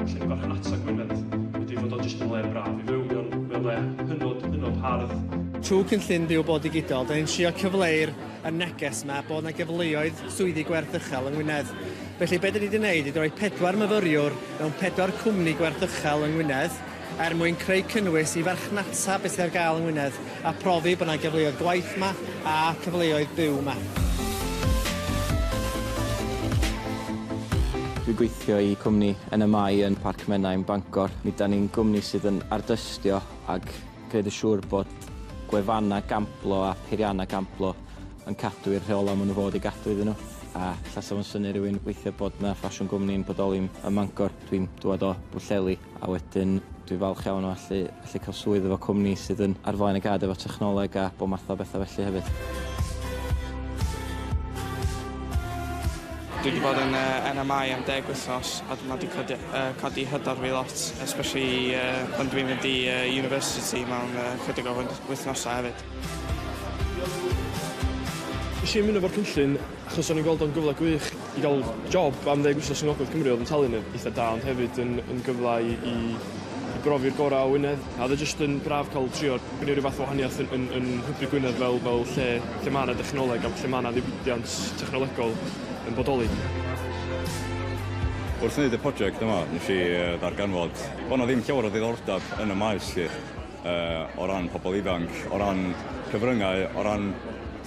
Felly, farchnata Gwynedd ydy fod o jyst yn le braf i fyw. Mae o'n le hynod, hynod hardd. Trwy Cynllun Byw Bob Digidol, da ni'n trio cyfleu'r y neges yma bod yna gyfleoedd swyddi gwerth uchel yng Ngwynedd. Felly, be da ni wedi gwneud ydy rhoi pedwar myfyriwr mewn pedwar cwmni gwerth uchel yng Ngwynedd, er mwyn creu cynnwys i farchnata beth sydd ar gael yng Ngwynedd a profi bod 'na gyfleoedd gwaith 'ma a cyfleoedd byw 'ma. Dwi'n gweithio i cwmni yn y Mae yn Parc Menai, Bangor. Mi ydan ni'n gwmni sydd yn ardystio ac gwneud yn siŵr bod gwefannau gamblo a peiriannau gamblo yn cadw i'r rheolau maen nhw fod i gadw iddyn nhw. A ella 'sa fo'n synnu rhywun weithiau bod 'na ffasiwn gwmni'n bodoli ym Mangor, dwi'n dŵad o Bwllheli. A wedyn dwi'n falch iawn o allu allu cael swydd efo cwmni sydd yn ar flaen y gad efo technoleg a bob math o betha felly hefyd. Dwi wedi bod yn uh, NMI am deg wythnos a mae wedi codi, uh, codi hyder fi lot, especially uh, pan dwi'n mynd i uh, university mewn uh, chydig o wythnosau hefyd. Nes i ymuno efo'r cynllun achos o'n i'n gweld o'n gyfle gwych i gael job am ddeg wsos yng Ngogledd Cymru oedd yn talu'n eitha da ond hefyd yn, yn gyfle i, i, i brofi'r gorau o Wynedd. A oedd e jyst yn braf cael trio gwneud rhyw fath o wahaniaeth yn, yn, yn hybu Gwynedd fel, fel lle, lle mae yna dechnoleg a lle mae yna ddiwydiant technolegol yn bodoli. Wrth wneud y prosiect yma, nes i ddarganfod bod 'na ddim llawer o ddiddordeb yn y maes lly, uh, o ran pobl ifanc, o ran cyfryngau, o ran,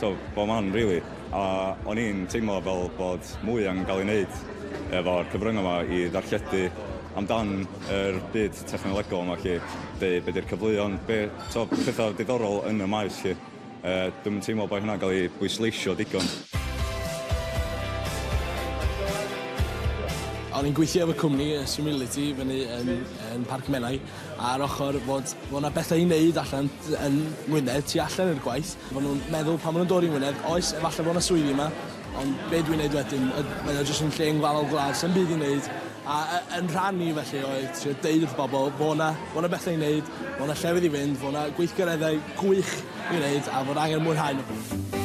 so, bob man, really. A o'n i'n teimlo fel bod mwy angen cael ei wneud efo'r cyfryngau yma i ddarlledu amdan yr byd technolegol yma chi. Be, be di'r cyfleon, be, so, pethau diddorol yn y maes chi. Uh, dwi'n teimlo bod hynna'n cael ei bwysleisio digon. O'n i'n gweithio efo cwmni y Simility fyny yn, yn Parc Menai a'r ochr fod, fod yna bethau i wneud allan yn Ngwynedd tu allan i'r gwaith Maen nhw'n meddwl pan maen nhw'n dod i Ngwynedd, oes, efallai bod yna swyddi yma, ond be dwi'n neud wedyn, mae o jyst yn lle ynglafol gwlad, sy'n byd i neud, a yn rhan ni felly oedd trio deud wrth bobl, fo yna, fo yna bethau i neud, fo yna llefydd i fynd, fo yna gweithgareddau gwych i wneud a fod angen mwynhau nhw.